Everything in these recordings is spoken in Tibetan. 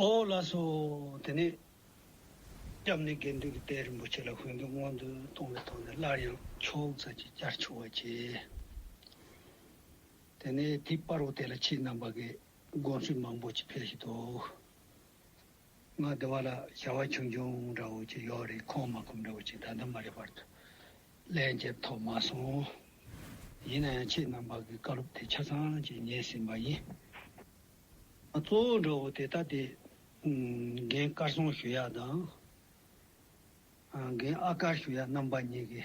ཨོ་བླ་སོ། དེ་ནས་སྐྱབས་གནས་དགེ་འདུན་གྱི་དཔལ་རིན་པོ་ཆེ་ལ་བོན་གྱི་སྔོན་འདོན་གཏོང་བའི་ཐོག་ནས་སླར་ཡང་ཕྱོགས་མཚམས་ཀྱི་བསྐྱར་ཆུ་བ་བྱས། དེ་ནས་དེའི་པར་བ་དེ་ལ་ཕྱིའི་རྣམ་པ་གི་དགོངས་ཚུལ་མང་པོ་ཅིག་འཕེལ་བཞིན་དུ། ང་བདེ་བ་ལ་བྱ་བ་ཆུང་ཆུང་འདྲ་བོ་ཅིག་ཡོད་རེད་ཁོང་མ་ཁོམ་འདྲ་བོ་ཅིག་ད་ལྟ་མ་རེད་བར་དུ་ལན་འདེབས་ཐོབ་མ་སོང། ཡིན་ན་ཡང་ཁྱེད་རྣམ་པ་གི་བཀའ་སློབ་དེ་ཆ་ཚང་ཅིག་ཉན་ཟིན་པ་ཡིན། ང་གཙོ་བོ་འདྲ་བོ་དེ་ལྟ་དེ་རྒན་དཀར་སྲོང་ཞུ་ཡག་དང་རྒན་ཨ་དཀར་ཞུ་ཡག་རྣམ་པ་གཉིས་ཀྱི།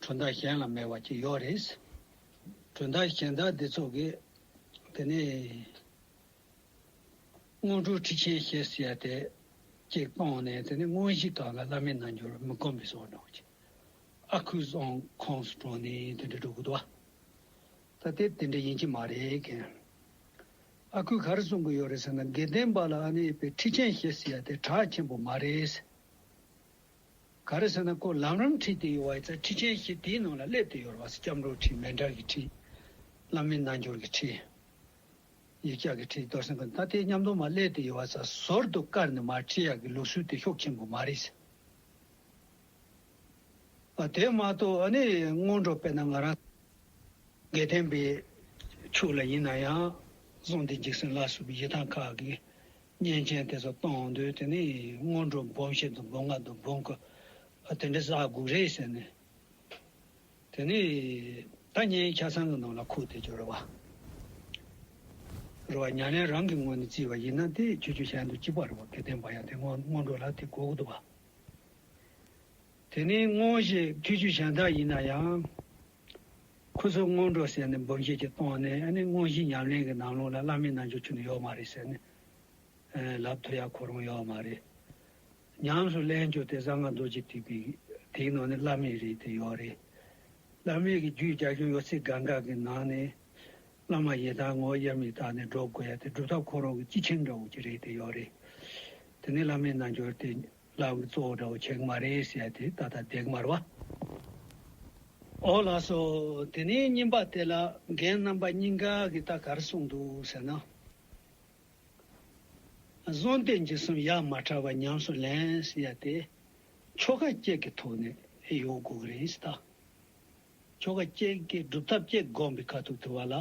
དོན་དག་གཞན་ལ་མེད་པ་ཅིག་ཡོད་རེད། དོན་དག་གཞན་དག་འདི་ཚོ་གི། དེ་ནས། སྔོན་འགྲོ་ཁྲིད་ཆེན་ཞེས་ཟེར་ཡ་དེ། ཅིག་སྤངས་ནས་དེ་ནས་དངོས་གཞི་དག་ལ་བླ་མའི་རྣལ་འབྱོར་མི་བསྒོམ་པའི་སྲོལ་འབྲང་བ་ཅིག། ཨ་ཁུ་རྫོང་ཁོངས་སུ་གྲོངས་ནས་དེ་འདྲ་གྲུབ་དགོས་དུ་བ། ད་དེ་དེ་འདྲ་ཡིན་གྱི་མ་རེད་མཁན། ཨ་ཁུས་ག་རེ་གསུང་གི་ཡོད་རེད་ཟེར་ན་དགེ་ལྡན་པ་ལ་ཨ་ནེ་པའི་ཁྲིད་ཆེན་ཞེས་ཟེར་ཡ་དེ་གྲགས་ཆེན་པོ་མ་རེད། ག་རེ་ཟེར་ན་སྐོར་ལམ་རམ་ཁྲི་དེ་ཡོད་བ་ཡི་ཚ་ཁྲི་ཆེན་ཞིག་དེའི་ནང་ལ་སླེབས་ཏེ་ཡོར་བ་སི་སྐྱབས་འགྲོའི་ཁྲི་མན་དྲར་གྱི་ཁྲི། བླ་མེད་རྣལ་འབྱོར་གྱི་ཁྲི། ཡིག་བཅག་གི་ཁྲི་རྡོར་སེང་གི་མཐའ་དེ་མཉམ་དུ་མ་སླེབས་ཏེ་ཡོར་བ་ས་ཟོར་དུ་བཀར་ནས་མར་ཁྲི་ཡག་གི་ལུགས་སྲོལ་དེ་ཤོག་ཆེན་པོ་མ་རེད་ཟེར། ཨ་དེ་མ་གཏོགས་ཨ་ནི་སྔོན་འགྲོ་དཔེར་ན་ང་རང། དགེ་ལྡན་པའི་ཕྱུག་ལ་ཡིན་ན་ཡང། གཟུངས་འདི་འཇིགས་སུན་ལ་སོགས་པའི་ཡི་ཐང་ཁག་གི། བརྙན་མཁན་དེ་ཚོ་གཏོང་འོང་དུས་དེ་ནི་སྔོན་འགྲོ་སྦོམ་ཞིག་འདུག་སྦོམ་ང་འདུག་སྦོམ་ཀུ་ཨ་དེ་འདྲའི་ཟ་དགུག་རེད་ཟེར་ནས། དེ་ནི་ད་བརྙན་ཁྱ་ཚང་གི་ནང་ལ་ཁུག་སྟེ་ཇོ་རུ་བ་ཉག་ལན་རང་གི་ངོས་ནས་བརྩིས་པ་ཡིན་ན་དེ་ཁྱོད་ཆུ་ཤེལ་དུ་ཅི་བར་རུ་བ་དེ་བསྟན་པ་ཡང་དེ་སྔོན་འགྲོ་ལ་དེ་དགོས་ཀྱི་འདུག་བ། དེ་ནི་སྔོན་གྱི་ཐུགས་རྒྱུད་གཞན་དག་ཡིན་ན་ཡང། ཁོ་ཚོས་སྔོན་འགྲོ་ཟེར་ནས་འབུམ་བཞེས་ཀྱི་སྟོང་ནས་ཨ་ནི་སྔོན་གྱི་ཉམས་ལེན་གྱི་ནང་ལུང་ལ་བླ་མའི་རྣལ་འབྱོར་ཆུད་ནས་ཡོད་མ་རེད་ཟེར་ནས། ལབ་ཐུབ་ཡ་གོ་རུང་ཡོད་མ་རེད། ཉམས་སུ་ལེན་རྒྱུ་དེ་གསང་སྔགས་རྡོ་རྗེ་ཐེག་པའི་དེའི་ནང་ནས་བླ་མེད་རེད་དེ་ཡོད་རེད། བླ་མེད་ཀྱི་རྒྱུད་རྒྱ་ཁྱོན་ཡོད་ཚད་གང་གཱ་གི་ནང་ནས། བླ་མ་ཡི་དམ་ངོ་དབྱེར་མེད་དག་ནས་སྒྲོག་དགོས་ཡ་དེ་སྒྲུབ་ཐབས་ཁོ་རང་གི་སྤྱི་ཆིངས་འདྲ་བོ་ཅིག་རེད་དེ་ཡོད་རེད། དེ་ནི་བླ་མའི་རྣལ་འབྱོར་དེ། ལག་གི་གཙོ་བོ་འདྲ་བོ་ཆེ་གི་མ་རེད་ཟེར་ཡ་དེ་ད་ལྟ་འདེགས་མར་བ། ཨོ་ལགས་སོ་དེ་ནས་བསྙེན་པ་དེ་ལ་རྒན་རྣམ་པ་གཉིས་འགའ་གིས་ད་གར་སོང་འདུག་ཟེར་ན། གཟོང་བསྟེན་གྱི་སུམ་ཡག་མ་ཕྲ་བ་ཉམས་སུ་ལེན་ཟེར་ཡ་དེ་ཆོ་ག་སྐྱེལ་གི་ཐོག་ནས་ཡོང་དགོས་གི་རེད་ད། ཆོ་ག་སྐྱེལ་གི་སྒྲུབ་ཐབས་སྐྱེལ་དགོངས་པའི་ཁ་ཐུག་དུ་བ་ལ།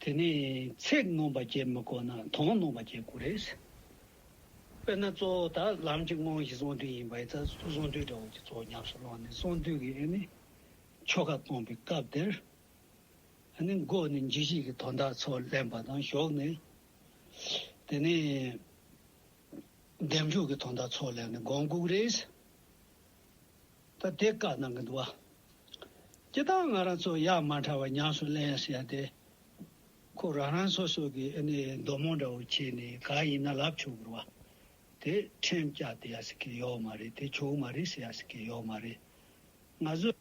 དེ་ནས་ཚེག་སྣོམ་པ་བརྒྱད་མི་དགོས་ན་དོང་སྣོམ་པ་བརྒྱད་དགོས་རེད། དཔེར་ན་གཙོ་བོ་དག་ལམ་གྱི་དངོས་གཞི་གསང་འདུས་ཡིན་པ་ཡིན་ཚ་གསུང་གསང་འདུས་འདྲ་བོ་གྱི་གཙོ་བོ་ཉམས་སུ་བླངས་ནས་གསང་འདུས་ཀྱི་ཨེ་ནི་ཆོ་ག་གཏོང་པའི་སྐབས་དེར་ཨེ་ནི་མགོ་ནས་འཇིགས་བྱེད་ཀྱི་དོན་དག་ཚོ་ལེན་པ་དང་ཞོག་ནས་དེ་ནས་འདེམས་འཇོག་གི་དོན་དག་ཚོ་ལེན་ནས་དགོངས་འགུགས་རེད། ད་དེ་བཀག་གནང་གི་འདུག་ཅེས་དང་ང་རང་ཚོ་ཡག་མ་ཕྲ་བ་ཉམས་སུ་གླན་ཡ་ཟེར་ཡ་དེ་ཁོ་རང་རང་སོ་སོ་གི་ཨ་ནི་མདོ་རྨོངས་འདྲ་བོ་བྱས་ནས་ག་ཡིན་ན་ལབ་ཆོག་གི་རེད་བ་དེ་ཁྲེམ་བཀྱག་དེ་ཡ་ཟེར་གི་ཡོག་མ་རེད་དེ་ཆོག་མ་རེད་ཟེར་ཡ་ཟེར་གི་ཡོག་མ་རེད་ང་ཚོ་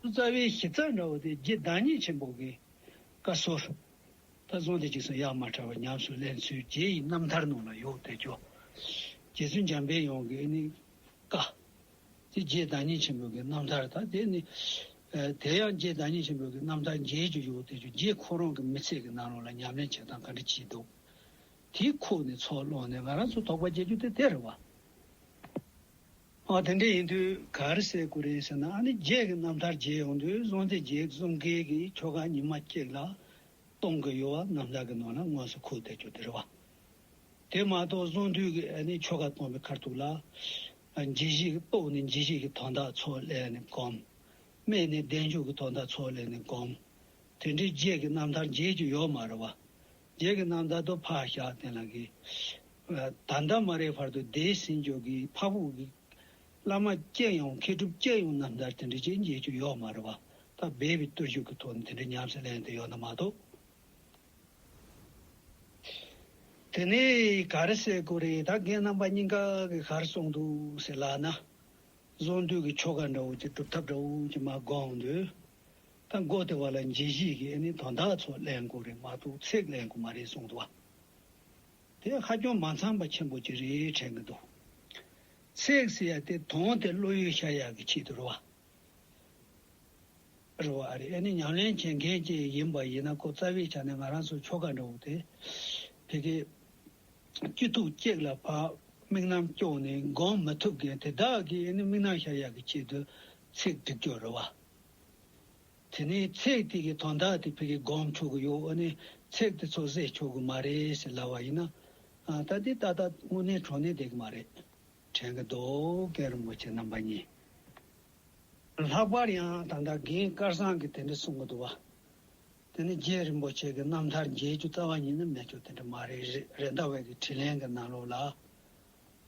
རྩ་བའི་གཞི་རྩ་འདྲ་བོ་དེ་རྗེ་བདག་ཉིད་ཆེན་པོ་གི་བཀའ་སྲོལ་ལྟར་བཟུང་དེ་གཅིག་སོང་ཡག་མ་ཕྲ་བ་ཉམས་སུ་གླན་ཚུལ་རྗེ་ཡི་རྣམ་ཐར་ནང་ལ་ཡོག་དེ་ཆོག་རྗེ་བཙུན་འཇམ་དཔལ་ཡོངས་ཀྱི་ཨ་ནི་བཀའ། དེ་རྗེས་བདག་ཉིད་ཆེན་པོའི་རྣམ་ཐར་དང་དེ་ནི། དེ་ཡང་རྗེས་བདག་ཉིད་ཆེན་པོའི་རྣམ་ཐར་མཇལ་རྒྱུ་ཡོད་དེ་ཆུ་རྗེས་ཁོ་རང་གི་མི་ཚེ་གི་ནང་ལོགས་ལ་ཉམས་ལེན་བྱེད་སྟངས་ག་འདྲ་བགྱིས་འདུག་དེ་ཁོ་ནི་ཚོགས་ལོགས་ནས་ང་རང་ཚོ་དོགས་པ་བསྐྱེད་རྒྱུ་དེ་དེར་བ། ཨ་དེ་འདྲ་ཡིན་དུས་གར་གསལ་དགོས་རེད་ཟེར་ན་ཨ་ནི་རྗེས་ཀྱི་རྣམ་ཐར་མཇལ་ཡོང་དུས་བཟང་སྟེ་རྗེས་གསུམ་ཀའི་གི་ཁྱོ་ག་ཉི་མ་གཅིག་ལ་གཏོང་གི་ཡོད་བ་རྣམ་ཐར་གི་ནང་ལ་དངོས་སུ་ཁུག་བསྡད་རྒྱུ་དེར་བ། དེ་མ་གཏོགས་གསུང་དུས་ནི་ཆོ་ག་སྟོང་པའི་ཁར་ཐུག་ལ། འཇིགས་བཞིས་སྤོགས་ནི་འཇིགས་བྱེད་ཀྱི་དོན་དག་ཚོགས་ལས་ནི་བསྒོམ། སྨད་ནི་བདེ་འཇུག་གི་དོན་དག་ཚོགས་ལས་ནི་བསྒོམ། དེ་འདྲའི་རྗེས་ཀྱི་རྣམ་ཐར་རྗེས་ཀྱི་ཡོད་མ་རེད་བ། རྗེས་ཀྱི་རྣམ་ཐར་དུ་ཕག་ཞག་དེ་ལ་གི། ད་ལྟ་མ་རེད་བར་དུ་འདས་ཟིན་འཇོག་གི་ཕ་བུ་གི། བླ་མ་སྐྱེས་ཡོང་མཁས་གྲུབ་སྐྱེས་ཡོང་རྣམ་ཐར་དེ་འདྲའི་རྗེས་ཀྱི་ཡོད་མ་རེད་བ། ད་འབད་པའི་བརྟུལ་ཞུགས་ཀྱི་ཐོག་ནས་དེ་འདྲའི་ཉམས་སུ་ལེན་དུ་ཡོད་ན་མ་གཏོགས། དེ་ནས་གར་སའི་སྐོར་རེ་ད་གིན་རྣམ་པ་སྙིང་ག་གི་གར་སོང་འདུག་ཟེར་ལགས་ན། བཟོ་འདུས་ཀྱི་ཆོ་ག་འདྲ་བོ་ཅིག་སྒྲུབ་ཐབས་འདྲ་བོ་ཅིག་མ་དགོངས་དུས། ད་མགོ་དེ་བ་ལ་མཇེ་གཞིས་ཀྱི་ཨེ་ནི་དོན་དག་ཚོ་གླེང་དགོས་རེད་མ་གཏོགས་ཚིག་གླེང་དགོས་མ་རེད་གསུངས་འདུག་བ། དེ་ཧ་ཅང་མ་འཚམས་པ་ཆེན་པོ་ཅིག་རེད་དྲན་གི་འདུག། ཚིག་ཟེར་ཡ་དེ་དོན་དེ་བློ་ཡུལ་ཤར་ཡག་གི་ཆེད་དུ་རེད་བ། རེད་བ་རེད་ཨེ་ནི་ཉམས་ལེན་བྱེད་མཁན་གྱི་ཡིན་པ་ཡིན་ན་ཁོ་རྩ་བའི་ཆ་ནས་ང་རང་ཚོའི་ཁྱོ་ག་འདྲ་བོ་དེ། དེ་གའི་སྐྱིད་སྡུག་སྐྱེག་ལ་བབས་དམིགས་རྣམ་སྐྱོང་ནས་འགོང་མི་ཐུབ་མཁན་དེ་དག་གིས་ཨེ་ནི་དམིགས་རྣམ་ཤར་ཡག་གི་ཆེད་དུ་ཚིག་སྒྲིག་རྒྱུ་རེད་བ། དེ་ནས་ཚིག་དེ་གའི་དོན་དག་དེ་ཕལ་གིས་སྒོམ་ཆོག་གི་ཡོད་ཨེ་ནི་ཚིག་དེ་ཚོ་བཟོས་ཆོག་གི་མ་རེད་ཟེར་སླ་བ་ཡིན་ན། ད་དེ་ཏག་ཏག་དངོས་གནས་གྲོ་ནས་བསྡད་གི་མ་རེད། བྲན་གྱི་རྡོ་ཀེ་རིན་པོ་ཆེ་རྣམ་པ་གཉིས། ལྷག་པར་ཡང་ད་ལྟ་རྒན་དཀར་བཟང་གིས་དེ་འདྲ་གསུང་གི་འདུག་བ། དེ་ནི་རྗེ་རིན་པོ་ཆེ་གི་རྣམ་ཐར་མཇལ་རྒྱུ་རྩ་བ་ཉིད་ནི་མེད་ཆོག་དེ་འདྲ་མ་རེད་རེད་ཟླ་བས་ཀྱི་དྲིས་ལན་གྱི་ནང་ལོགས་ལ།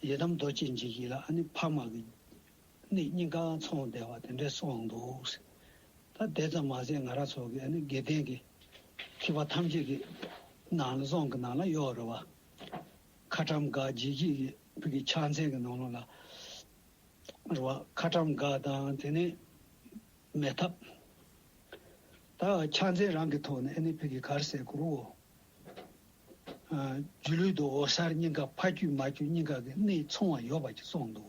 ཡི་དམ་རྡོ་རྗེ་འཇིགས་བྱེད་ལ་ཨ་ནི་འཕགས་མ་གི། ནི་སྙིང་ག་འཚོང་བདེ་བ་དེ་འདྲས་གསུང་འདུག་ཟེར། ད་དེ་ཙམ་མ་ཟད་ང་རང་ཚོ་གི་ཨ་ནི་དགེ་ལྡན་གྱི། ཁྱི་བ་ཐམས་ཅད་ཀྱི། ནང་ལ་རྫོང་གི་ནང་ལ་གཡོག་རུ་བ། ཁ་ཏྲམ་སྒ་རྗེས་ཀྱི་བོད་ཀྱི་ཕྱག་མཚན་གྱི་ནང་ལོགས་ལ་རུ་བ་ཁ་ཏྲམ་སྒ་དང་དེ་ནས་མེ་ཐབ། ད་ཕྱག་མཚན་རང་གི་ཐོག་ནས་ཨེ་ནི་བོད་ཀྱི་གར་སའི་གུ་རུའོ། སྒྱུ་ལུས་དུ་འོ་གསར་སྙིང་ག་ཕ་རྒྱུད་མ་རྒྱུད་སྙིང་ག་གི་གནས་མཚུངས་བ་ཡོད་པ་ཅིག་སོང་འདུག།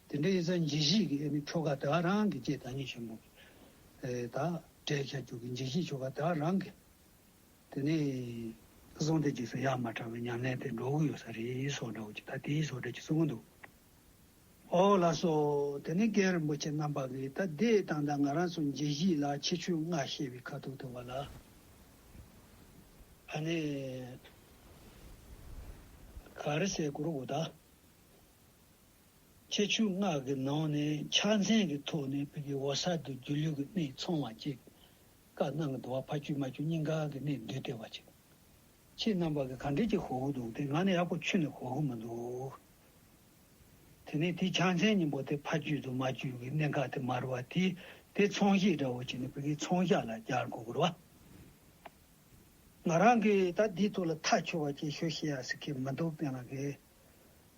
དེ་འདྲའི་ཡིན་ས་འཇིགས་བྱེད་ཀྱི་ཨེ་ནི་ཆོ་ག་དེ་བ་རང་གི་ཀྱེ་བདག་ཉིད་ཆེན་པོ། ད་བྲེད་བྱ་རྒྱུད་ཀྱི་འཇིགས་བྱེད་ཆོ་ག་དེ་བ་རང་གི། དེ་ནས་གསུང་བདེ་སྐྱིད་སོགས་ཡག་མ་དྲག་པའི་ཉམས་ལེན་དེ་འགྲོ་གི་ཡོད་ས་རེད་སོགས་འདྲ་བོ་ཅིག་ད་དེའི་ཟོག་འདྲ་ཅིག་གསུང་གི་འདུག་ཨོ་ལ་སོགས་དེ་ནས་སྐལ་རིན་པོ་ཆེ་རྣམ་པ་གིས་ད་དེ་ད་ལྟ་ང་རང་ཚོ་མཇེ་བཞི་ལ་ཆེ་ཆུང་ལྔ་བཤད་པའི་ཁ་ཐུག་ཐུག་པ་ལ་ཨ་ནི་ག་རེ་བཤད་དགོས་རུང་གོ་ད་ཆེ་ཆུང་ལྔ་གི་ནང་ནས་ཕྱག་མཚན་གྱི་ཐོག་ནས་བི་གི་ཝོ་ས་དུ་སྒྱུ་ལུས་ཀྱི་གནས་ཚང་བ་ཅིག་བཀའ་གནང་གི་འདུ་བ་ཕ་རྒྱུད་མ་རྒྱུད་སྙིང་ག་གི་གནས་འདུས་ལྟེ་བ་ཅིག། ཁྱེད་རྣམ་པ་གི་ག་འདྲེ་གྱི་གོ་གུ་འདུག་སྟེ་ང་ནི་ཡག་པོ་ཆུད་ནས་གོ་གུ་མི་འདུག། དེ་ནས་དེའི་བྱང་ཆེན་སྙིང་པོ་དེ་ཕ་རྒྱུད་དུ་མ་རྒྱུད་ཀྱི་གནས་འགག་དེ་མར་བ་དེས་དེ་ཚོང་གཞིས་འདྲ་བོ་བྱས་ནས་བུ་གའི་ཚོང་བཞག་ལ་བརྒྱར་གོ་གུར་བ། ང་རང་གིས་ད་འདིའི་ཐུགས་ལ་ཐག་ཆོད་བ་གཅིག་ཤོད་ཤེས་ཡ་ཟིག་གི་མི་འདུག་སྟེ་ང་གི་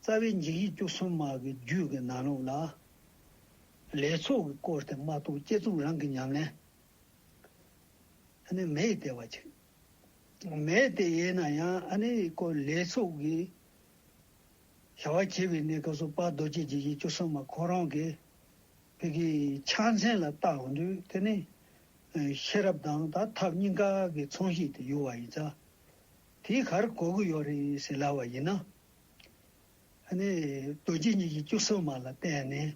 རྩ་བའི་འཇིགས་ཡིག་བཅུ་གསུམ་མ་གི་རྒྱུད་ཀྱི་ནང་ལུགས་ལ། ལས་ཚོགས་ཀྱི་སྐོར་དེ་མ་གཏོགས་བསྐྱེད་རྩོམ་རང་གི་ཉམས་ལེན། ཨ་ནེ་མེ་ཡི་སྟེ་བ་ཅིག། མེ་ཡི་སྟེ་ཡེ་ན་ཡང་ཨ་ནེ་ཡི་སྐོར་ལས་སོགས་ཀྱི་བྱ་བ་བྱེད་པའི་གནས་སྐབས་སུ་དཔའ་རྡོ་རྗེ་འཇིགས་བྱེད་བཅུ་གསུམ་མ་ཁོ་རང་གི་བུ་གི་ཕྱག་མཚན་ལ་བཏགས་འདུག་དེ་ནི་ཤེས་རབ་དང་དག་ཐབས་གཉིས་ཀ་གི་མཚུངས་ཤིག་ཏུ་གྱུར་བ་ཡིན་ཙང་དེའི་ཁར་གོ་གི་ཡོད་རེད་ཟེར་སླ་བ་ཡིན་ན། ཨ་ནེ་རྡོ་རྗེ་འཇིགས་བྱེད་བཅུ་གསུམ་མ་ལ་བརྟེན་ནས་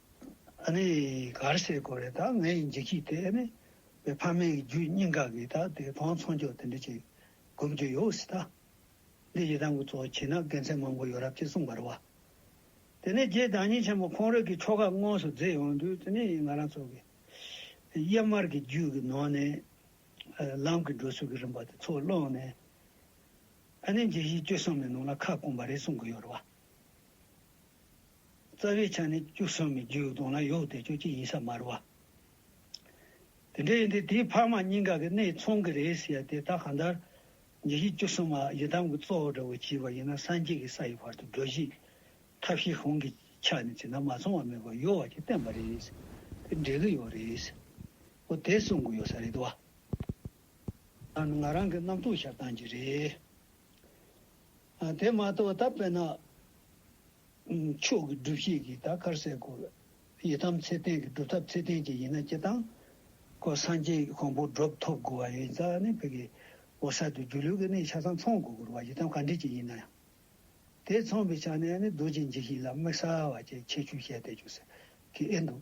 ཨ་ནེ་གར་སེར་གོ་རེ་དག་ངའི་འཇིགས་བྱེད་དེ་ཨེ་མེད་པའི་ཕ་མའི་རྒྱུད་སྙིང་ག་གི་དག་དེ་བང་ཚོང་ཅོག་དེ་འདྲ་ཅིག་སྒོམ་རྒྱུ་ཡོད་སྲིད་ད། འདི་ཡི་དམ་གི་གཙོ་བོ་བྱིན་ན་དགེ་མཚན་མང་པོ་ཡོད་རབས་ཅེས་གསུངས་པར་བ། དེ་ནས་རྗེ་བདག་ཉིད་ཆེན་པོ་ཁོང་རིགས་ཀྱི་ཆོ་ག་དངོས་སུ་མཛད་ཡོང་དུས་དེ་ནས་ང་རང་ཚོ་གི་གཡེར་དམར་གྱི་རྒྱུད་ཀྱི་ནང་ནས་ལམ་གྱི་འགྲོ་ཚུལ་གྱི་རིམ་པ་དེ་ཚོ་བླངས་ནས་ཨ་ནེ་འཇིགས་བྱེད་བཅུ་གསུམ་ནི་ནང་ལ་ཁ་སྐོང་པ་རེད་གསུང་གི་ཡོད་རེད་བ། རྩ་བའི་ཆ་ནས་བཅུ་གསུམ་པའི་རྒྱུའི་གདོང་ལ་ཡོད་དེ་ཆོས་ཀྱི་དབྱིངས་ས་མ་རུ་བ། དེ་འདྲ་ཡིན་དུས་དེའི་འཕགས་མ་སྙིང་ག་གི་གནས་མཚུངས་ཀྱི་རེད་ཟེར་ཡ་དེ་དག་གང་ལྟར། ཉེ་བཞི་བཅུ་གསུམ་པ་ཡི་དམ་གྱི་གཙོ་བོ་འདྲ་བོ་བྱས་པ་ཡིན་ན་སངས་རྒྱས་ཀྱི་ས་ཡི་བར་དུ་སྒྲོལ་བྱེད་ཀྱི་ཐབས་ཤེས་གོང་གི་ཆ་ནས་བྱས་ན་མ་མཚུངས་བ་མེད་པར་ཡོད་བ་ཞིག་བསྟན་པ་རེད། དེ་འགྲེལ་གྱི་ཡོད་རེད། འོ་དེ་གསུང་གི་ཡོད་ས་རེད་བ། ད་ནི་ང་རང་གི་རྣམ་རྟོག་ཞབས་གཏམ་གྱི་རེད། དེ་མ་གཏོགས་ད་བལྟ་ན་ཆོས་ཀྱི་སྒྲུབ་བྱེད་ཀྱི་ད་གར་སའི་སྒོ་ཡི་དམ་ཚེ་བརྟན་གྱི་སྒྲུབ་ཐབས་ཚེ་བརྟན་གྱི་ཡིན་ན་སྤྱི་དང། ཁོ་སངས་རྒྱས་ཀྱི་གོང་བུར་སྒྲུབ་ཐོབ་དགོས་བ་ཡིན་ཙང་ནི་བོད་ཀྱི་བོ་གསར་དུ་སྒྱུ་ལུས་ཀྱི་གནས་ཆ་ཚང་ཚོང་དགོས་བ་ཡི་དམ་ག་འདྲི་ཅིག་ཡིན་ན་ཡང། དེ་ཚོང་བའི་ཆ་ནས་ནི་རྡོ་རྗེ་འཇིགས་བྱེད་ལ་དམིགས་བསལ་བ་བཅས་ཆེ་ཆུང་བཤད་བསྡད་རྒྱུ་ཟེར་གི་ཨེ་འདུག།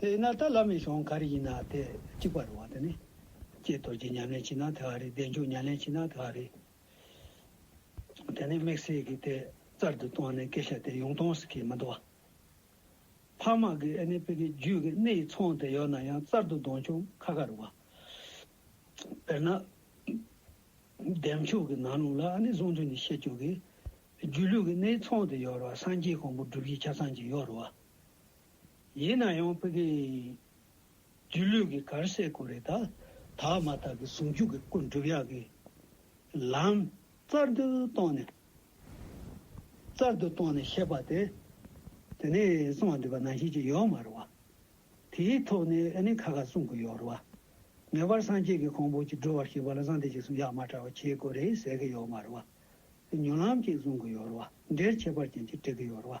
དེས་ན་ད་ལམ་མི་ཤོང་ག་རེ་ཡིན་ན་དེ་གཅིག་པ་རེད་བ་དེ་ནི། ཀྱེ་རྡོ་རྗེ་ཉམས་ལེན་བྱེད་ན་དེ་ག་རེད་བདེ་མཆོག་ཉམས་ལེན་བྱེད་ན་དེ་ག་རེད། དེ་ནི་དམིགས་བསལ་གྱི་དེ་རྩར་དུ་བཏང་ནས་སྐད་ཆ་དེ་ཡོང་སྟངས་སུ་ཁས་མི་འདུག་བ། འཕགས་མ་གིས་ཨེ་ནི་པི་ཀའི་རྒྱུད་ཀྱི་གནས་ཡི་ཚང་དེ་ཡོད་ན་ཡང་རྩར་དུ་གདོན་ཅུང་ཁ་ཁ་རེད་བ། དཔེར་ན། བདེ་མཆོག་གི་ནང་ལུགས་ལ་ཨེ་ནི་གཟུངས་ཐུན་ནས་བཤད་བཅུག་གི། རྒྱུད་ལུས་ཀྱི་གནས་ཡི་ཚང་དེ་ཡོད་རེད་བ་སངས་རྒྱས་གང་པོ་སྒྲུབ་བྱེད་ཆ་ཚང་གཅིག་ཡོད་རེད་བ། ཡིན་ན་ཡང་བོད་ཀྱི་སྒྱུ་ལུས་ཀྱི་གར་སའི་གོ་རེ་དག་དག་མ་དག་གི་ཟུང་འཇུག་གི་སྐུ་འགྲུབ་ཡག་གི་ལམ་རྩར་དུ་གཏོང་ནས་རྩར་དུ་གཏོང་ནས་བཤད་པ་དེ་དེ་ནས་གསུང་བ་འདུས་པ་ནང་བཞིན་གྱི་ཡོག་མ་རུ་བ་དེའི་ཐོག་ནས་ཨེ་ནི་ཁ་ཁ་གསུང་གི་ཡོག་རུ་བ་ངེས་པར་སངས་རྒྱས་ཀྱི་ཁོང་བོ་ཅིག་འགྲོ་བར་ཤེས་པ་ལ་བཟང་དེ་ཅིག་གསུང་ཡག་མ་དྲ་བ་ཁྱེའི་གོ་རེ་ཟེར་གི་ཡོག་མ་རུ་བ་ཉོ་ལམ་ཅིག་གསུང་གི་ཡོག་རུ་བ་འདྲེར་ཁྱད་པར་ཅན་ཅིག་བྲི་གི་ཡོག་རུ་བ།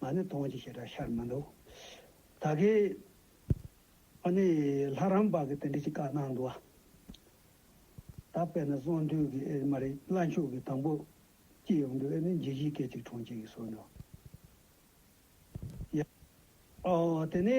ང་ནི་དོང་གི་བྱེ་བྲག་ཤར་མི་འདུག། ད་གི། ཨ་ནི། ལྷ་རམས་པ་གི་དེ་འདྲི་གཅིག་བཀའ་གནང་འདུག་ཨ། ད་དཔེར་ན་གསང་འདུས་གི་ཨེ་མ་རེད་བླ་མཆོད་གི་དང་པོ། ཅིག་ཡོང་འདུག་ཨེ་ནི་འཇིགས་བྱེད་སྐད་ཅིག་གྲོང་ཁྱེར་གི་སོ་ནུ། ཡ། ཨོ། དེ་ནི།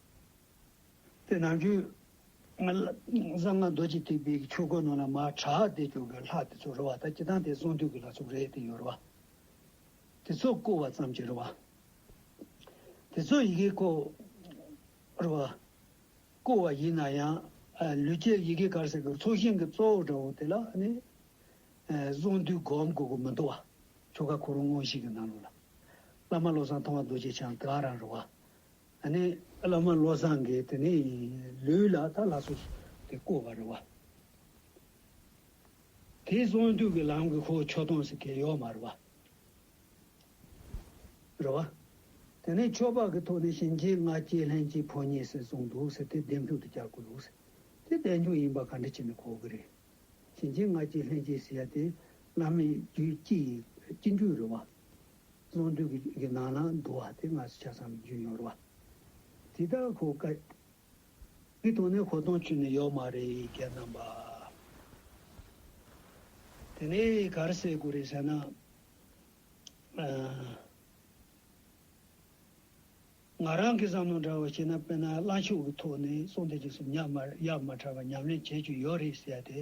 དེ་ནང་རྒྱུད་གསང་སྔགས་རྡོ་རྗེ་ཐེག་པའི་ཆོས་སྐོར་ནང་ལ་མ་གྲགས་བདེ་སྐྱོང་གི་ལྷ་དེ་ཚོ་རུ་བ་དང་སྐྱི་ཐང་དེ་གསང་འདུས་ཀྱི་ལྷ་ཚོགས་རེད་དེ་ཡོད་རུ་བ་དེ་ཚོ་བཀོལ་བ་ཙམ་གྱི་རུ་བ་དེ་ཚོ་ཡི་གེ་ཁོ་རུ་བ་བཀོལ་བ་ཡིན་ན་ཡང་ལུས་སྐྱེས་ཡི་གེ་གར་ཟེར་གི་ཚོགས་ཞིང་གི་གཙོ་བོ་འདྲ་བོ་དེ་ལ་ནི་གསང་འདུས་སྒོམ་དགོས་དགོས་མི་འདུག་བ་ཆོ་ག་གོ་རུ་དངོས་གཞི་གི་ནང་ལུགས་ལ་བླ་མ་བློ་བཟང་ཐང་བ་རྡོ་རྗེ་འཆང་དེའང་རང་རུ་བ་ད་ནི་བླ་མ་བློ་བཟང་གིས་དེ་ནི་ལུས་ལ་ད་ལྷ་སོ་སོ་དེ་བསྐོར་བ་རེད་བ། དེའི་གསང་འདུས་ཀྱི་ལམ་གྱི་ཁོག་ཆོད་སྟོང་ཟེར་གྱི་ཡོད་མ་རེད་བ། རེད་བ། དེ་ནི་ཆོས་འཕགས་ཀྱི་ཐོག་ནས་གཤིན་རྗེའི་སྔ་རྗེས་ལྷན་སྐྱེས་ཕོ་ཉས་ཟེར་གསུངས་འདུག་ཟེར་དེ་འདེམས་ཐུག་ཏུ་བསྐྱར་དགོས་ལུགས་ཟེར་དེ་བསྡད་འཇུག་ཡིན་པ་ག་འདྲ་བྱས་ནས་གོ་གི་རེད། གཤིན་རྗེའི་སྔ་རྗེས་ལྷན་སྐྱེས་ཟེར་ཡ་དེ་བླ་མའི་རྒྱུད་སྤྱི་ཡི་སྤྱི་འགྲོས་རེད་བ། སྔོན་དུས་ཀྱི་ནང་ན་འདུ་བ་དེ་སྔར་ཆ་ཚང་བའི་རྒྱུ་ཡོད་རེད། དེ་དག་གོ་དཀའ། དེའི་དོན་ནི་གོ་སྟངས་ཅུང་ནས་ཡོད་མ་རེད་རྒྱལ་རྣམ་པ། དེ་ནས་གར་བསད་དགོས་རེད་ཟེར་ན། ང་རང་གི་བསམ་བློ་འདྲ་བོ་བྱས་ན་དཔེར་ན་བླ་མཆོད་ཀྱི་ཐོག་ནས་སྲོང་བཙན་རྒྱལ་སྲིད་ཉག་མར་གཡག་མ་འཁྲབ་པ་ཉམས་ལེན་བྱེད་རྒྱུ་ཡོད་རེད་ཟེར་ཏེ།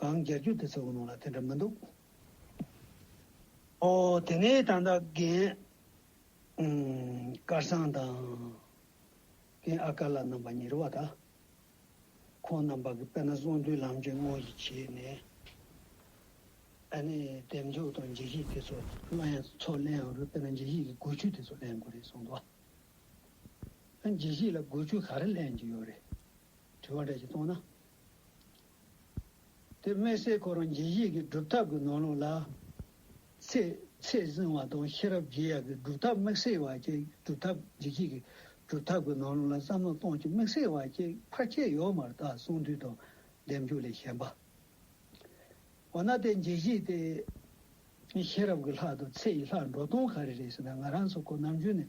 གང་རྒྱལ་རྒྱུད་དེ་ཚོའི་གོ་ནོར་ལ་དེ་འདྲ་མི་འདུག། ཨོ། དེ་ནས་ད་ལྟ་རྒན། སྐལ་བཟང་དང། རྒན་ཨ་དཀར་ལགས་རྣམ་པ་གཉིས་རེད་བ་ད། ཁོང་རྣམ་པ་གི་དཔེར་ན་གསུང་དུས་ལམ་གྱི་དངོས་གཞི་བྱས་ནས། ཨ་ནི་འདེབས་འཛུགས་དང་འཇིགས་ཞིག་དེ་ཚོ་གླང་ཡང་ཚོ་གླེན་ཡང་རུ་དཔེར་ན་འཇིགས་ཞིག་གི་གོས་ཆུ་དེ་ཚོ་གླེན་དགོས་རེད་གསུང་འདུག་ཨ། འཇིགས་ཞིག་ལ་གོས་ཆུ་ག་རེ་གླེན་གྱི་ཡོད་རེད། དྲི་བ་འདྲ་ཞིག་གཏོང་ན། དེ་དམིགས་བསལ་ཁོ་རང་རྒྱལ་གཞིས་ཀྱི་སྒྲུབ་ཐབས་ཀྱི་ནོར་ལུགས་ལ། ཚེ་ཚད་བཟུང་བ་དང་ཤེས་རབ་རྒྱས་ཡག་གི་སྒྲུབ་ཐབས་དམིགས་བསལ་བ་བཅས་སྒྲུབ་ཐབས་རྒྱལ་གཞིས་ཀྱི་སྒྲུབ་ཐབས་ཀྱི་ནོར་ལུགས་ལ་བསམ་བློ་གཏོང་ཆེད་དམིགས་བསལ་བ་བཅས་ཕར་ཆེར་ཡོད་མ་རྟགས་གསུང་དུས་དང་ལྡེམ་རྒྱུ་ལས་གཞན་པ། འོ་ན་དེ་རྒྱལ་གཞིས་ཏེ། ཤེས་རབ་ཀྱི་ལྷ་དང་ཚེ་ཡི་ལྷ་འགྲོ་སྟོང་ག་རེ་རེད་ཟེར་ན་ང་རང་ཚོ་ཁོ་ནར་འཇུས་ནས་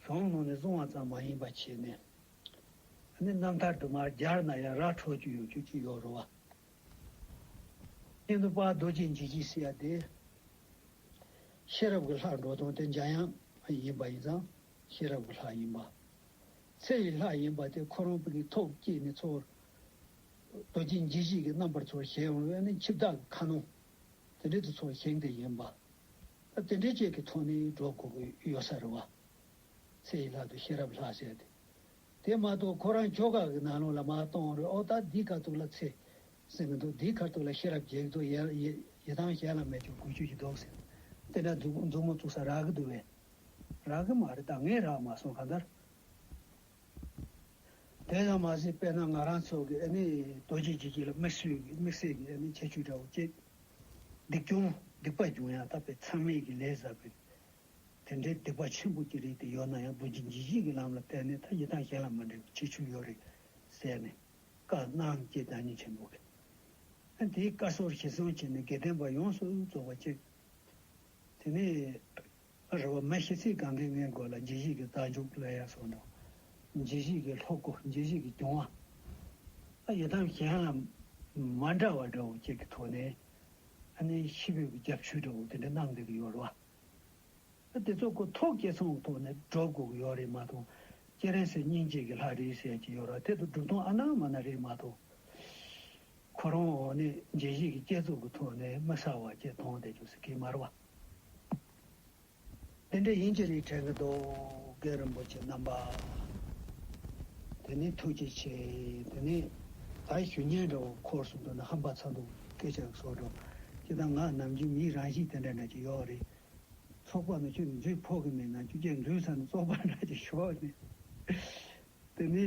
གཞོང་ནང་ནས་སོང་བ་ཙམ་མ་ཡིན་པར་བྱས་ནས། ནི་རྣམ་ཐར་དུ་མར་སྦྱར་ན་ཡང་ར་འཕྲོ་བཅུ་ཡོད་བཅུ་གཅིག་ཡོད་རུང་བ། གཉེན་དུ་དཔའ་རྡོ་རྗེ་འཇིགས་བྱེད་སྲི་ཡ་སྟེ། ཤེས་རབ་ཀྱི་ལྷ་འགྲོ་དོན་དེ་འཇམ་དབྱངས་ཡིན་པ་ཡིན་ཙང་ཤེས་རབ་ཀྱི་ལྷ་ཡིན་པ། ཚེ་ཡི་ལྷ་ཡིན་པ་དེ་ཁོ་རང་ཕུག་གི་ཐོག་བསྐྱེད་ནས་འཚོ་བར། རྡོ་རྗེ་འཇིགས་བྱེད་ཀྱི་རྣམ་པར་འཚོ་བར་བཞེད་འོང་བས་ནི་འཆི་བདག་གི་ཁ་ནང་དེ་འབྲེལ་དུ་འཚོ་བར་བཞེངས་ཏེ་ཡིན་པ། རྟེན་འབྲེལ་བཅས་ཀྱི་ཐོག་ནས་གྲོགས་མགོ་གི་གཡོ་ས་རུ་བ་ཚེ་ཡི་ལག་ཏུ་ཤེས་རབ་ལྷག་བྱས་ཏེ། དེ་མ་གཏོགས་ཁོ་རང་ཁྱོ་ག་གི་ནང་ལོགས་ལ་མ་གཏོང་རོགས་ཨོ་ད་འདིའི་དཀའ་སྡུག་ལ་ཚེ་ཟིན་གི་འདུག་འདིའི་ཁར་ཐུག་ལ་ཤེས་རབ་རྒྱས་ཀྱི་འདུག་ཡི་ཐང་གཞན་ལ་མེད་ཀྱང་གུས་སྤྱོད་ཀྱི་རྡོག་སེལ་དེ་འདྲ་མཛུབ་མོ་བཙུགས་ས་རག་གི་འདུག་བས། རག་གི་མ་རེད་ད་ངས་རག་མ་སོང་གང་ལྟར། དེ་ཙམ་མ་ཟད་དཔེར་ན་ང་རང་ཚོ་གི་ཨ་ནི་རྡོ་རྗེ་འཇིགས་བྱེད་ལ་དམིགས་བསལ་གྱི་ཁྱད་ཆོས་འདྲ་བོ་སྐྱེས། སྡིག་སྐྱོང། སྡིག་པ་འབྱུང་ཡང་དག་པའི་མཚམས་མེད་ཀྱི་ལས་བསགས་པས། དེ་འདྲའི་སྡིག་པ་ཆེན་པོ་སྐྱེ་རིགས་དེ་ཡོད་ན་ཡང་རྡོ་རྗེ་འཇིགས་བྱེད་ཀྱི་ལམ་ལ་བརྟེན་ནས་མཐའ་ཡི་དྭངས་ཤེལ་ལ་མ་འདྲེས་པའི་ཁྱད་ཆོས་ཡོད་རེད། ཟེར་ནས། བཀའ་གནང་སྐྱེས་བདག་ཉིད་ཆེན་པོ་གིས། དེའི་བཀའ་སོར་བཞེས་གསུང་བྱས་ནས་དགེ་ལྡན་པ་ཡོངས་སུ་རྫོགས་པ་བཅས། དེ་ནས། ཨ་རོ་བ་མ་ཤི་ཚེ་གང་གཱའི་ངའི་མགོ་ལ་རྗེ་བཞི་ཀའི་རྟ་མཇུག་ལ་ཡར་སོང་དང། རྗེ་བཞི་ཀའི་ལྷོ་སྒོ་རྗེ་བཞི་ཀའི་གྱོང་བ། ཨ་ཡི་དམ་གཞན་ལ་མ་འདྲ་བ་འདྲ་བོ་གཅིག་གི་ཐོག་ནས་ཨ་ནི་ཤི་བོའི་རྒྱབ་མཆུ་འདྲ་བོ་དེ་འདྲ་གནང་འདོད་ཀྱི་ཡོད་རེད་བ། ཨ་དེ་ཚོ་གོ་ཐོག་སྐྱེ་ཚོང་ཐོག་ནས་འགྲོ་དགོས་ཀྱི་ཡོད་རེད་མ་གཏོགས་ཁྱེད་རང་ཚོའི་སྙིང་རྗེ་གི་ལྷ་རེད་ཟེར་གྱི་ཡོད་ར་དེ་ཚོ་སྒྲུབ་སྟངས་ཨ་ན་མ་ན་རེད་མ་གཏོགས། ཁོ་རང་ཨོ་ནི་རྗེ་བཞི་ཀའི་སྐྱེ་ཚོགས་ཀྱི་ཐོག་ནས་མི་ས་བ་ཅིག་མཐོང་བསྡད་ཀྱི་ཟེར་གྱི་མ་རེད་བ། དེ་འདྲའི་ཡིན་གྱི་རིགས་བྲལ་གྱི་རྡོ་རྗེ་རིན་པོ་ཆེ་རྣམ་པ། དེ་ནི་ཐུགས་རྗེ་ཆེ། དེ་ནས་ད་ཞུ་ཉལ་འདྲ་བོ་འཁོར་སུམ་སྟོང་ན་ཧམ་པ་ཚ་འདུག་སྐད་ཆ་ཟོ་འགྲོ། ཁྱེད་དང་ང་ནམ་རྒྱུན་མིའི་རང་གཤིས་དེ་འདྲ་འདྲ་ཅིག་ཡོད་རེད། ཚོགས་པ་ནས་ཆུ་འཛུལ་ཕོག་གི་མེད་ན་ཆུ་སྐྱེས་འཛུལ་ཚར་ནས་ཚོགས་པ་འདྲ་ཅིག་ཞོག་ནས། དེ་ནི།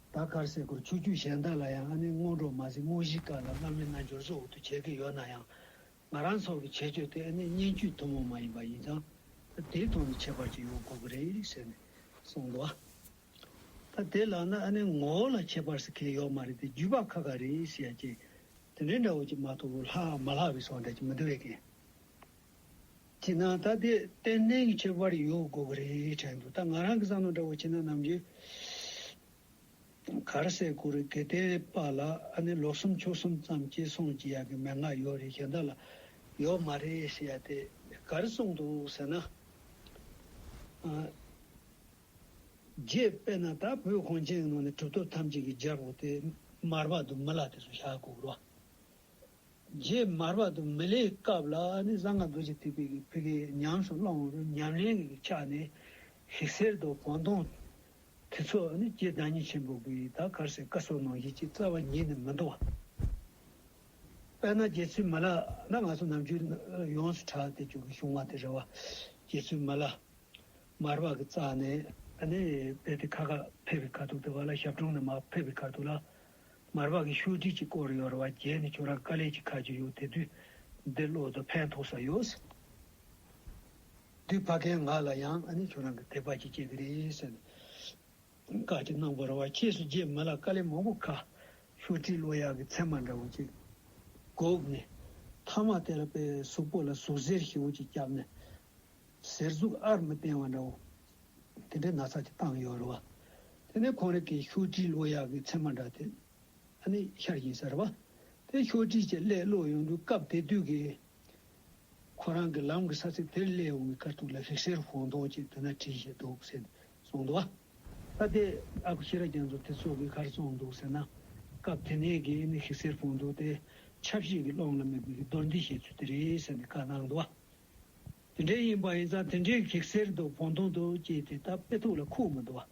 ད་གར་སེ་གོལ་ཚུར་རྒྱུག་གཞན་དག་ལ་ཡང་ཨ་ནེ་སྔོན་འགྲོ་མ་ཟིན་རྨོ་བཞིའི་སྐབས་ལ་སླར་མི་སྣ་འབྱོར་བཟོ་འུ་ཐུག་བྱེད་ཀྱི་ཡོད་ན་ཡང། ང་རང་ཚོ་གི་བྱེད་སྤྱོད་དེ་ཨ་ནེ་སྙན་བརྒྱུད་ཐུན་མོང་མ་ཡིན་པ་ཡིན་ཙང། ད་དེའི་ཐོག་ནས་ཁྱད་པར་ཅིག་ཡོང་དགོས་ཀྱི་རེད་ཟེར་ནས་གསུངས་འདུག་ད་དེ་ལགས་ན་ཨ་ནེ་ངོ་བོ་ལ་ཁྱད་པར་ཟེར་མཁན་ཡོག་མ་རེད་དེ་བརྒྱུད་པ་ཁ་ཁ་རེད་ཟེར་ཡ་ཅེས་དེ་འདྲའི་འདྲ་བོ་ཅིག་མ་ཐུག་ལྷག་མ་ལྷག་བའི་སོགས་འདྲ་ཅིག་མི་འདུག་བས་ཀན། དེས་ན་ད་དེ་བསྟན་གནས་ཀྱི་ཁྱད་པར་ཡོད་དགོས་ཀྱི་རེད་དྲན་འདུག་ད་ང་རང་གི་བསམ་བློ་འདྲ་བོ་བྱས་ན་ནམ་རྒྱུན་གར་ཟས་གོ་རི་གེ་ཏའི་པ་ལ་ཨ་ནི་ལོ་གསུམ་ཕྱོགས་གསུམ་ཙམ་སྐྱེས་སོང་བགྱི་ཡག་གི་མན་ངག་ཡོད་རེད་གཞན་དག་ལ་ཡོད་མ་རེད་ཟེར་ཡ་དེ་གར་སོང་འདུག་ཟེར་ན་རྗེས་དཔེར་ན་ད་བོད་གངས་ཅན་གྱི་ནང་ནས་གྲུབ་ཐོབ་ཐམས་ཅད་ཀྱི་རྒྱལ་པོ་དེ་མར་པ་དུ་མི་ལ་དེ་ཚོ་བཞག་གོ་རུ་བ་རྗེས་མར་བར་དུ་མི་ལའི་སྐབས་ལ་ནི་གསང་སྔགས་རྡོ་རྗེ་ཐེག་པའི་གི་བུ་གའི་ཉམས་སུ་བླང་བར་ཉམས་ལེན་གྱི་གི་ཕྱག་ནི་ཞིག་གསེར་རྡོ་བོང་སྟོང་དེ་ཚོགས་ནི་ཀྱེའི་བདག་ཉིད་ཆེན་པོ་གིས་ད་གར་སའི་བཀའ་སྲོལ་ནང་བཞིན་ཅིག་རྩ་བ་ཉིད་ནི་མི་འདོར་བ་དཔེར་ན་རྗེ་བཙུན་མི་ལ་ན་ང་ཚོ་ནམ་རྒྱུན་ཡོངས་སུ་གྲགས་ཏེ་བྱུང་གི་བྱུང་བ་དེ་རེད་བ། རྗེ་བཙུན་མི་ལ། མར་བར་གྱི་རྩ་ནི། ནི་བས་ཏེ་ཁ་ཁ་ཕེབས་པའི་ཁ་ཐུག་དུ་བ་ལ་ཞབས་དྲུང་ནི་མ་ཕེབས་པའི་ཁ་ཐུག་ལ་མར་བག་གི་ཤོས་དྲི་གཅིག་བསྐོར་ཡོར་བ་བརྒྱད་ནི་ཁྱོད་རང་དཀའ་ལས་ཀྱི་ཁ་རྒྱུ་ཡོད་དེ་དུས་འདི་བློ་དང་ཕན་ཐོགས་ས་ཡོད། དུས་ཕ་གའི་ང་ལ་ཡང་ཨ་ནི་ཁྱོད་རང་གི་དད་པ་ཅིག་སྐྱེ་གི་རེད་ཟེར་ནས་བཀའ་ཅིག་གནང་བར་བ་ཁྱེད་སུ་རྗེས་མ་ལ་དཀའ་ལས་མང་པོ་ཁ་ཤོ་དྲི་བློ་ཡག་གི་མཚན་མ་འདྲ་བོ་ཅིག་བསྒོགས་ནས་མཐའ་མ་དེ་ལ་པའི་གཟུགས་པོ་ལ་ཟུག་གཟེར་ཞེ་བོ་ཅིག་བརྒྱབ་ནས་ཟེར་གཟུགས་ཨར་མི་བསྟན་བ་འདྲ་བོ། དེ་འདྲའི་ན་ཚ་གི་སྟངས་ཡོད་རེད་བ། དེ་ནས་ཁོང་རེ་གིས་ཤོག་དྲིལ་བློ་ཡག་གི་ཚད་མ་འདྲ་དེ་ཨ་ནི་ཤར་བཞིན་ཟེར་བ། དེ་ཤོག་དྲིལ་གྱི་ཀླད་བློ་ཡོང་དུས་སྐབས་དེ་དུས་ཀྱི་ཁོ་རང་གི་ལམ་གི་ས་ཚིགས་དེར་ཀླད་ཡོང་གི་ཁར་ཐུག་ལ་རིག་སེར་བོང་ཐོག་ཅིག་དེ་ན་བྲིས་བཞིན་འདུག་ཟེར་ནས་སོང་འདུག་བ། ད་ལྟའི་ཨ་ཁུ་ཤེས་རབ་རྒྱ་མཚོ་དེ་ཚོ་གི་གར་སོང་འདུག་ཟེར་ན། སྐབས་དེ་ནས་ཀྱི་ཨི་ནི་ཧིག་སེར་བོང་ཐོག་དེ་ཆབ་སྲིད་ཀྱི་ཀློང་ལ་མི་དགོས་ཀྱི་རྡོར་འདི་བཤད་ཚུལ་དེ་རེད་ཟེར་ནས་བཀའ་གནང་འདུག་བ། དེ་འདྲའི་ཡིན་པ་ཡིན་ཙང་དེ་འདྲའི་གེགས་སེལ་དུ་བོང་དོང་དུ་སྐྱེས་ཏེ་ད་དཔེ་ཐུགས་ལ་ཁུག་མི་འདུག་བ།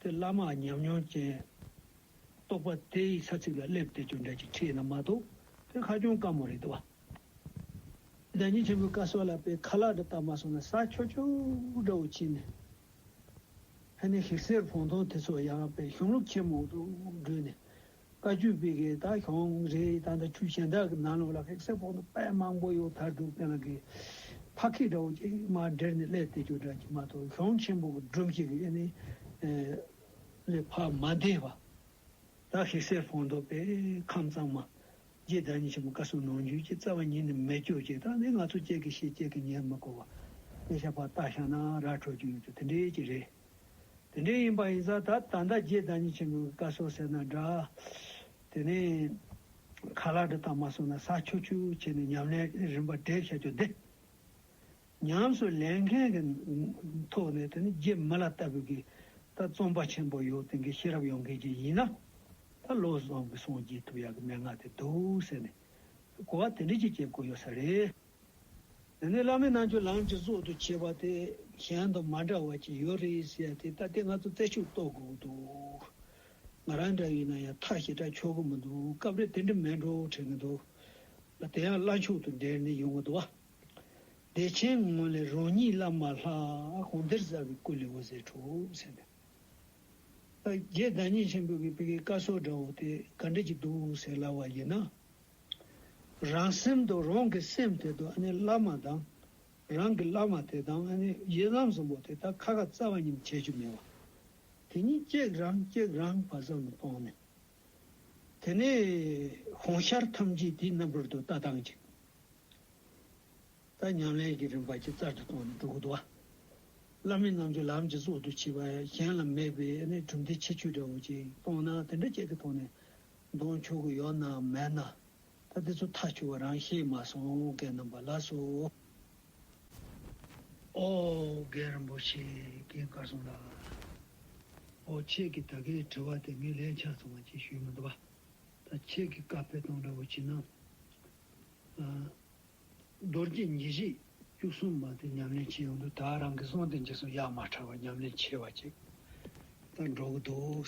དེ་བླ་མ་ཉམས་མྱོང་ཅན། རྟོགས་པ་དེ་ཡི་ས་ཚིགས་ལ་སླེབས་ཏེ་ཅོ་འདྲ་ཅིག་ཁྲིད་ན་མ་གཏོགས་དེ་ཧ་ཅང་དཀའ་མོ་རེད་འདུག་བ། བདག་ཉིད་ཆེན་པོའི་བཀའ་སྲོལ་ལ་དཔེ་ཁ་ལག་འདྲ་བཏགས་མ་སོང་ན་ས་ཁྱོ་ཁྱོ་འདྲ་བོ་ཕྱིན་ནས། ཧ་ནའི་གེགས་སེལ་བོང་དོང་དེ་ཚོ་ཡང་དཔེ་གཞུང་ལུགས་ཆེན་མོ་དུ་བསྒྲུས་ནས་བཀའ་བརྒྱུད་སྤེལ་མཁན་དག་གྱོང་རེ་ད་ལྟ་ཆུ་ཆེན་དག་གི་ནང་ལོགས་ལ་ཧེག་སེ་ཕོག་འདུག་དཔལ་མང་པོ་ཡོད་ཐར་འདུག་དེ་ལ་གི་ཕ་ཁི་འདྲ་བོ་ཅིག་མ་སྦྲེལ་ནས་ཀླད་དེ་ཅུ་འདྲ་གྱི་མ་གཏོགས་གྱོང་ཆེན་པོ་གི་སྒྲུབ་བྱེད་གི་ཨེ་ནི་ལས་ཕ་མ་འདས་པ་དག་ཧེག་སེ་ཕོག་འདུག་པས་ཁམས་གཙང་མ་རྗེ་བདག་ཉིད་ཆེན་པོ་བཀའ་ཟུར་ནོངས་འགྱོད་ཀྱི་རྩ་བ་ཉིད་ནི་མེད་སྐྱོར་བྱེད་སྟངས་ནི་ང་ཚོ་བཅས་ཀྱི་ཤེས་བྱེད་ཀྱི་ཉེར་མི་གོ་བ་ལས་ཞག་པ་ལྟ་ཞག་ན་ར་འཕྲོད་ཀྱི་ཡོད་ཚུལ་དེ་འདྲའི་ཅིག་རེད། དེ་འདྲའི་ཡིན་པ་ཡིན་ས་ད་ད་ཟླ་རྗེས་བདག་ཉིད་ཆེན་པོའི་བཀའ་སྲོལ་ཟེར་ན་འདྲ། དེ་ནས་ཁ་ལག་འདྲ་དག་མ་སོང་ན་ས་ཆུ་ཆུ་བྱས་ནས་ཉམས་ལེན་རིམ་པ་གྲས་བྱ་རྒྱུ་འདི། ཉམས་སུ་ལེན་མཁན་གྱི་ཐོག་ནས་དེ་ནི་རྗེ་མི་ལ་ལྟ་བུ་གི་ད་རྩོམ་པ་ཆེན་པོ་ཡོད་དེ་གི་ཤེས་རབ་ཡོང་མཁན་གྱི་ཡིན་ན་ད་བློ་བཟང་གི་གསུང་བརྗེད་ཐུབ་ཡག་གི་མན་ངག་དེ་འདུག་ཟེར་ནས་གོ་བ་དེ་འདྲས་ཀྱི་སྐྱེ་དགོས་ཡོད་ས་རེད། དེ་ནས་བླ་མའི་རྣལ་འབྱོར་ལམ་གྱི་གཙོ་དུ་བྱས་པ་དེ་གཞན་དང་མ་འདྲ་བ་ཅིག་ཡོད་རེད་ཟེར་ཡ་དེ་ལྟ་སྟེ་ང་ཚོ་རྩལ་ཤུགས་གཏོད་དགོས་འདུག་ང་རང་འདྲ་བའི་ན་ཡང་ཐག་ཞེ་དྲག་ཆོད་གི་མི་འདུག་སྐབས་རེ་དེ་འདྲ་མེད་འགྲོ་དྲན་གི་འདུག་ལ་དེ་ཡང་བླ་མཆོག་ཏུ་འབྲེལ་ནས་ཡོང་གི་འདུག་བ། བདེ་ཆེན་ངོས་ལས་རང་ཉིད་བླ་མ་ལྷ་གོང་གཏེར་གསར་བའི་སྐུ་ལས་འོད་ཟེར་འཕྲོ་ཟེར་ནས། རྒྱའི་བདག་ཉིད་ཆེན་པོ་གི་བཀའི་བཀའ་སྲོལ་འདྲ་བོ་དེ་ག་འདྲ་གྱི་འདུག་ཟེར་སླ་བ་ཡིན་ན། རང་སེམས་དང་རང་གི་སེམས་དེ་དང་ཨནི་བླ་མ་དང་རང་གི་བླ་མ་དེ་དང་ཨནི་ཡི་དམ་གསུམ་པོ་དེ་དག་ཁ་ཁ་རྩ་བ་ཉིད་བྱེད་རྒྱུ་མེད་པ། དེ་གཉིས་གཅིག་རང་གཅིག་རང་བ་ཙམ་དུ་སྤོང་ནས། དེ་ནས་གོང་ཤར་ཐམས་ཅད་དེའི་རྣམ་པར་དུ་ལྟ་སྟངས་ཀྱིས། ད་ཉམས་ལེན་གྱི་རིམ་པ་ཅིག་ཙར་དུ་སྟོང་ནས་འགྲོ་གི་འདུག། བླ་མའི་རྣམ་འགྱུར་ལམ་གྱི་གཙོ་དུ་བྱས་པ་གཞན་ལ་མེད་པའི་ཨནི་གྲུབ་མཐའི་ཁྱད་ཆོས་འདྲ་བོ་ཅིག་སྟོང་ན་དེ་འདྲ་བྱེད་ཀྱི་ཐོག་ནས་གདོང་ཕྱོགས་གུ་ཡོག་ན་མེད་ན། ད་དེ་ཚོ་ཐག་ཆུ་བ་རང་ཤེས་མ་སོང་གད་རྣམ་པ་ལགས་སོ། ཨོ་རྒན་རིན་པོ་ཆེ་རྒན་དཀར་ཟུང་ལགས། ཨོ་ཁྱེད་ཀྱི་ད་གའི་དྲི་བ་དེ་མི་ལན་ཆགས་སོང་བ་ཅིག་ཞུས་མི་འདུག་བ། ད་ཁྱེད་ཀྱི་བཀའ་ཕེབས་སྟངས་འདྲ་བོ་བྱིན་ན། རྡོ་རྗེ་ཉི་བཞི་བཅུ་གསུམ་པ་དེ་ཉམས་ལེན་བྱེད་ཡོང་དུས་ད་རང་གི་གསུང་དེ་འཇིགས་སོང་གཡག་མ་ཁྲ་བ་ཉམས་ལེན་བྱེད་བ་ཅིག་ད་འགྲོ་གི་འདུག།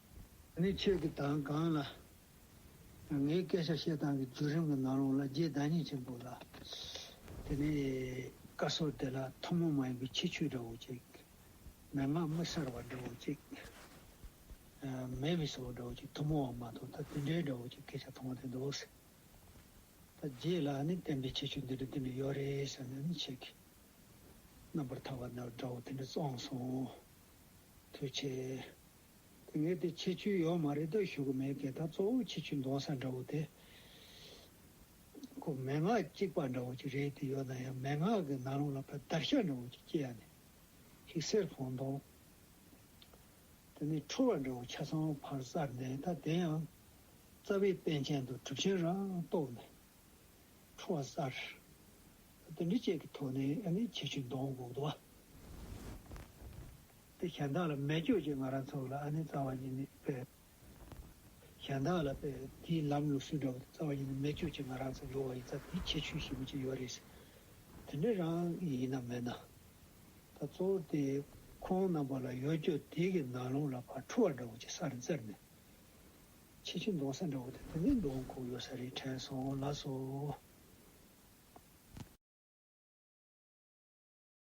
ནི་ཁྱོད་ཀྱི་དང་གང་ལ། ངའི་སྐད་ཆ་བཤད་སྟངས་ཀྱི་བརྒྱུད་རིམ་གྱི་ནང་རུང་ལ་རྗེས་བདག་ཉིད་ཅན་པོ་ལ། དེ་ནི་བཀའ་སྲོལ་དེ་ལ་ཐུན་མོང་མ་ཡིན་པའི་ཁྱད་ཆོས་འདྲ་བོ་ཅིག། མན་ངག་དམིགས་བསལ་བ་འདྲ་བོ་ཅིག། མེད་མི་སྲིད་པ་འདྲ་བོ་ཅིག་ཐུན་མོང་བ་མ་གཏོགས་ད་དེ་འདྲའི་འདྲ་བོ་ཅིག་སྐད་ཆ་མཐོང་བ་དེ་འདུག། ཟེར། ད་རྗེས་ལ་ནི་བསྟན་པའི་ཁྱད་ཆོས་འདི་འདྲ་འདི་འདྲ་ཡོད་རེད་ཟེར་ནས་ནི་ཁྱེད་ཀྱི། རྣམ་པར་ཐར་བ་འདྲ་བོ་དེ་འདྲ་བཙོངས་སོང། ཐུགས་ཆེ། ངས་དེ་ཆེ་ཆུང་ཡོད་མ་རེད་དོ་ཞུ་གི་མེད་དེ་དག་གཙོ་བོ་ཆེ་ཆུང་འདོག་ས་འདྲ་བོ་དེ། ཁོ་མན་ངག་གཅིག་པ་འདྲ་བོ་ཅིག་རེད་དེ་ཡོད་ན་ཡང་མན་ངག་གི་ནང་རུང་ལ་ཕ་དར་ཤ་འདྲ་བོ་ཅིག་སྐྱེ་ཡ་ནི། ཞིག་སེར་བོང་མདོང། དེ་ནི་ཁྲོ་བ་འདྲ་བོ་ཆ་ཚང་བ་ཕར་བཙར་ནས་ད་དེ་ཡང། རྩ་བའི་དཔལ་ཆེན་དུ་གྲུབ་ཆེན་རང་རྟོགས་ནས། ཁྲོ་བ་བཙར། དེ་འདྲི་བཅས་ཀྱི་ཐོག་ནས་ཨ་ནི་ཆེ་ཆུང་འདོག་འགོག་དུ་བ། དེ་གཞན་དག་ལ་སྨད་སྐྱོ་ཅིག་ང་རང་ཚོ་ལ་ཨ་ནི་རྩ་བ་ཉིད་ནས་དཔེ་གཞན་དག་ལ་དཔེ་དེའི་ལམ་ལུགས་སུ་འདྲ་བོ་དེ་རྩ་བ་ཉིད་ནས་སྨད་སྐྱོ་ཅིག་ང་རང་ཚོ་འགྲོ་བ་ཡིན་ཙང་དེའི་ཁྱད་ཆོས་ཞིབ་མོ་ཅིག་ཡོད་རེད་དེ་འདྲ་རང་གི་ཡིན་ནམ་མེད་ན། ད་གཙོ་བོ་དེ་ཁོང་རྣམ་པ་ལ་ཡོད་སྐྱོ་དེ་གི་ནང་ལོང་ལ་ཕར་འཁྲུ་བ་འདྲ་བོ་ཅིག་ས་རེ་འཛེར་ནས་ཆེ་ཆེ་འདོང་ས་འདྲ་བོ་དེ་དེ་འདྲའི་འདོང་ཁུག་ཡོད་ས་རེད་དྲན་སོང་ལགས་སོ།